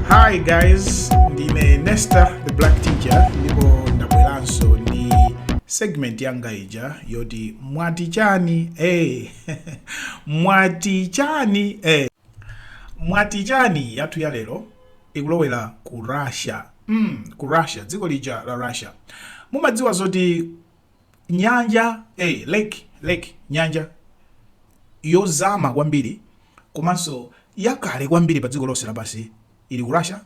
Hi guys, ndine Nesta the Black Teacher ndipo ndabweranso ndi segment yanga ija yoti mwati chani eh mwati chani eh mwati chani yathu ya lero ikulowera ku Russia mm, ku Russia dziko lija la Russia mumadziwa zoti Nyanja, a lake, lake, nyanja yozama kwambiri komanso yakale kwambiri pa dziko lonse lapansi ili ku Russia.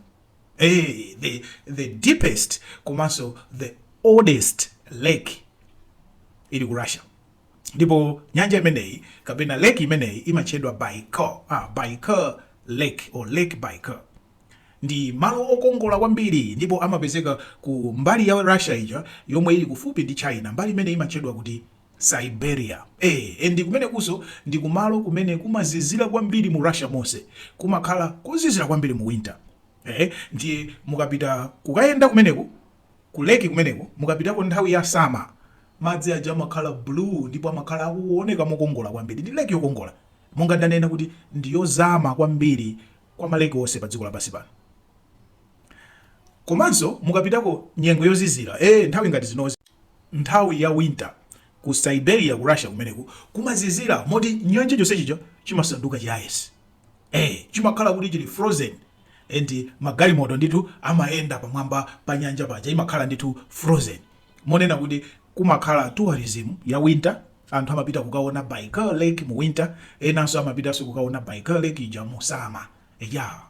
Hey, eh, the, the deepest komanso the oldest lake ili ku Russia ndipo nyanja imeneyi kapena lake imeneyi imatchedwa Baikal, ah, Baikal lake or lake Baikal. Ndi malo okongola kwambiri ndipo amapezeka ku mbali ya Russia ija yomwe ili kufupi ndi China, mbali imene imatchedwa kuti Siberia. Eee, and kumenekunso ndi kumalo kumene kumazizira kwambiri mu Russia monse. Kumakhala kuzizira kwambiri mu winter. Ehe, ndiye mukapita kukayenda kumeneku, ku lake kumeneku, mukapitako nthawi ya summer, madzi aja amakhala blue ndipo amakhala akuoneka mokongola kwambiri. Ndi lake yokongola. Monga ndanena kuti ndi yozama kwambiri kwa ma lake onse padziko lapansi pano komanso mukapitako nyengo yozizira eh nthawi ngati zinozi nthawi ya winter ku Siberia ku Russia kumeneku kumazizira moti nyanja chonsechicho chimasanduka cha ice eh chimakhala kuti chili frozen and magalimoto ndithu amayenda pamwamba pa nyanja paja imakhala ndithu frozen monena kuti kumakhala tourism ya winter anthu amapita kukaona Baikal Lake mu winter enanso amapitanso kukaona Baikal Lake ija mu summer eya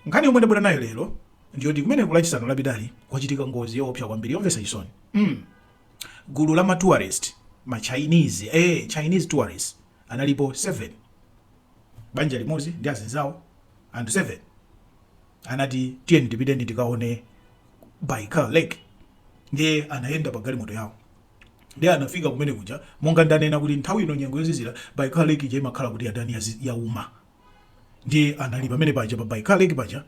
nkhani yomwe ndabwera nayo lero ndiyoti kumeneku lachisanu lapitali kwachitika ngozi yoopsa kwambiri yomvetsa chisoni mm. gulu la ma tourist ma Chinese eh Chinese tourists analipo 7 banja limodzi ndi azinzawo anthu 7 anati tiyeni tipiteni tikaone baikal lake ndiye anayenda pa galimoto yawo ndiye anafika kumene kuja monga ndanena kuti nthawi ino nyengo yozizira baikal lake ija imakhala kuti yatani yauma ndiye anali pamene paja pa baikal lake paja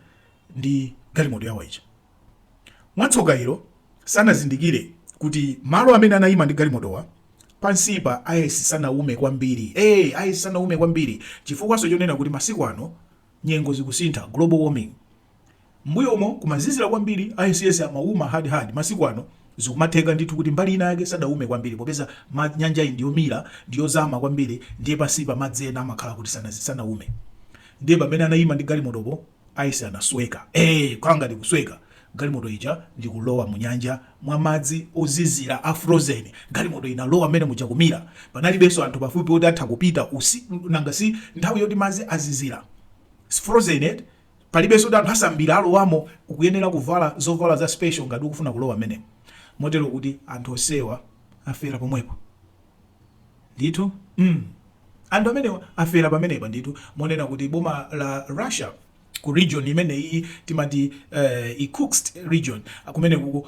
ndi galimoto yawo ija mwatsoka ilo sanazindikire kuti malo amene anayima ndi galimotowo pansipa ice sanaume kwambiri hey, ice sanaume kwambiri chifukwanso chonena kuti masiku ano nyengo zikusintha, global warming, m'mbuyomo kumazizira kwambiri ice amauma hard hard masiku ano zikumatheka ndithu kuti mbali ina yake sadaume kwambiri popeza ma nyanjayi ndi yomira ndi yozama kwambiri ndiye pansipa madzi ena amakhala kuti sana sanaume ndiye pamene anaima ndi galimotopo ice anasweka eh kaya ngati kusweka galimoto ija likulowa munyanja mwa madzi ozizira a frozen galimoto inalowa mmene muja kumira panalibenso anthu pafupi oti atha kupita nanga si nthawi yoti madzi azizira si frozen eti palibenso kuti anthu asambira alowamo ukuyenera kuvala zovala za special ngati ukufuna kulowa mmenemo motero kuti anthu onsewa afera pomwepo ndithu mm. anthu amenewa afera pamenepa ndithu monena kuti boma la russia ku region imeneyiyi timati uh, Irkutsk region kumenekuku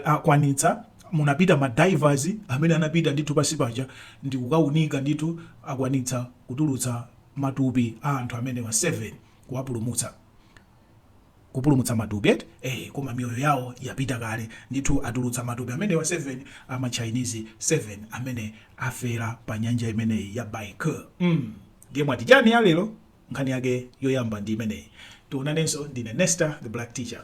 akwanitsa munapita ma divers amene anapita ndithu pansi paja ndi kukaunika ndithu akwanitsa kutulutsa matupi a anthu amenewa 7 kuwapulumutsa kupulumutsa matupi eti eh, koma miyoyo yawo yapita kale ndithu atulutsa matupi amenewa 7 ama chinese 7 amene afera pa nyanja imeneyi ya baikal mm. ndiye mwati chani ya lero Nkhani yake yoyamba ndi imeneyi. Tionanenso. Ndine Nesta the Black Teacher.